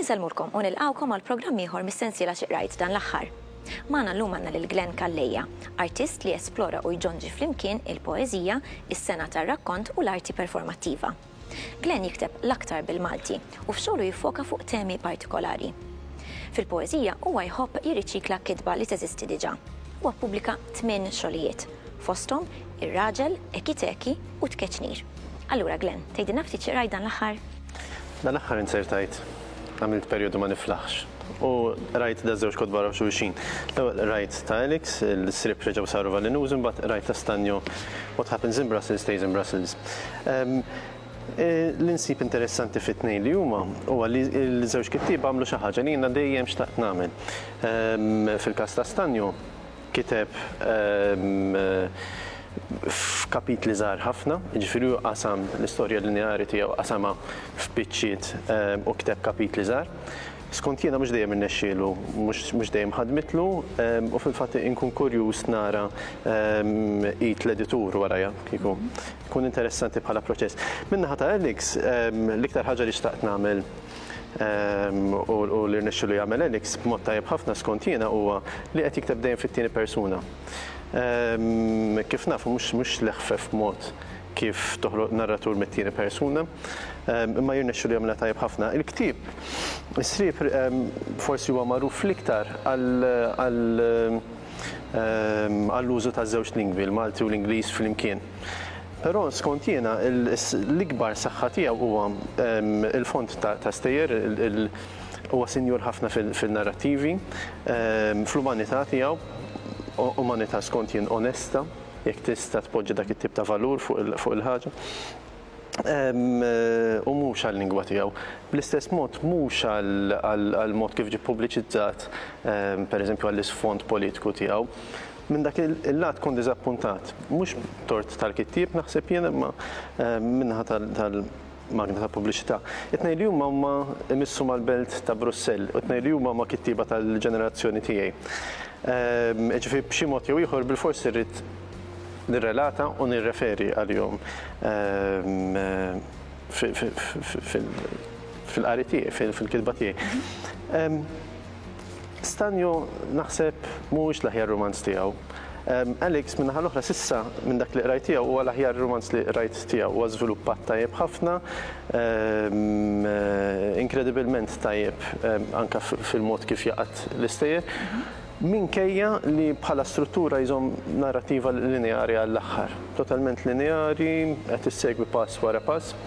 Insellmulkom u nilqgħukom għal programm ieħor mis-sensiela xi qrajt dan l-aħħar. Magħna llum għandna lil Glenn Calleja, artist li jesplora u jġonġi flimkien il-poeżija, is-sengħa tar-rakkont u l-arti performattiva. Glenn jikteb l-aktar bil-Malti u f'xogħlu jiffoka fuq temi partikolari. Fil-poeżija huwa jħobb jirriċikla kitba li teżisti diġà. Huwa ppubblika tmien xogħlijiet, fosthom Ir-Raġel, Eki Teki u Tkeċnir. Allura Glenn, tgħidilna ftit xi qrajt dan l-aħħar? Dan l-aħħar inzertajt għamilt perjodu ma niflaħx. U rajt da żewġ kotba raw xulxin. L-ewwel rajt ta' Alex, il-srib reġgħu saru valinużi, mbagħad rajt ta' Stanjo What happens in Brussels stays in Brussels. Ehm, e, li nsib interessanti fit-tnejn li huma huwa li l-żewġ kittieb għamlu xi ħaġa li jiena dejjem xtaqt nagħmel. Ehm, fil-każ ta' Stanjo, Kiteb f'kapitli żgħar ħafna, jiġifieri hu qasam l-istorja lineari tiegħu qasamha f'biċċiet u kiteb kapitli żgħar. Skont jiena mhux dejjem irnexxielu, mhux dejjem ħadmitlu u fil-fatt inkun kurjuż nara id l-editur warajha kieku. Ikun interessanti bħala proċess. Min-naħa ta' Alex, l-iktar ħaġa li xtaqt nagħmel, u li rnexxielu jagħmel Alex b'mod tajjeb ħafna skont jiena huwa li qed jikteb dejjem fit-tieni persuna. Kif nafu mhux mhux l-eħfef mod kif toħloq narratur mit-tieni persuna, imma jirnexxielu jagħmilha tajjeb ħafna. Il-ktieb Is-Sriep forsi huwa magħruf l-iktar għall-użu taż-żewġ lingwi, il-Malti u l-Ingliż flimkien. Però skont jiena l-ikbar saħħa tiegħu huwa l-fond ta' stejjer, huwa sinjur ħafna fin-narrattivi, fl-umanità tiegħu, umanità skont jien onesta, jekk tista' tpoġġi dak it-tip ta' valur fuq il-ħaġa, u mhux għal-lingwa tiegħu. Bl-istess mod mhux għall-mod kif ġie ppubbliċizzat, pereżempju għall-isfond politiku tiegħu. Minn dak il-lat kont diżappuntat, mhux b'tort tal-kittieb naħseb jien imma min-naħa tal-magna tal-pubbliċità. It-tnejn li huma huma jmissu mal-belt ta' Brussell u t-tnejn li huma huma kittieba tal-ġenerazzjoni tiegħi. Jiġifieri b'xi mod jew ieħor bilfors irrid nirrelata u nirreferi għalihom fil-qari tiegħi, fil-kitba tiegħi. Stanju naħseb mhuwiex l-aħjar rumanz tiegħu. Alex, min-naħa l-oħra, s'issa minn dak li qrajt tiegħu huwa l-aħjar rumanz li qrajt tiegħu. Huwa żviluppat tajjeb ħafna, inkredibilment tajjeb anke fil-mod kif jaqgħad l-istejjer, minkejja li bħala struttura jżomm narrattiva lineari għall-aħħar. Totalment lineari, qed issegwi pass wara pass,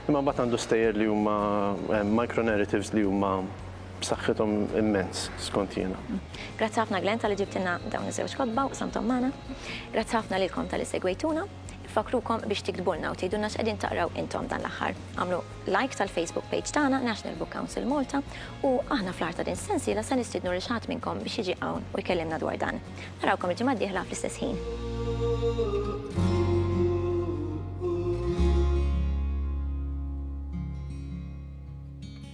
imma mbagħad għandu stejjer li huma micro-narratives li huma. b'saħħithom immens, skont jiena. Grazzi ħafna Glenn talli ġibtilna dawn iż-żewġ kotba u qsamthom magħna. Grazzi ħafna lilkom talli segwejtuna. Infakkrukom biex tiktbulna u tgħidulna x'qegħdin taqraw intom dan l-aħħar. Agħmlu like tal-Facebook page tagħna National Book Council Malta u aħna fl-aħħar ta' din is-sensiela se nistiednu lil xi ħadd minnkom biex jiġi hawn u jkellimna dwar dan. Narawkom il-ġimgħa d-dieħla fl-istess ħin.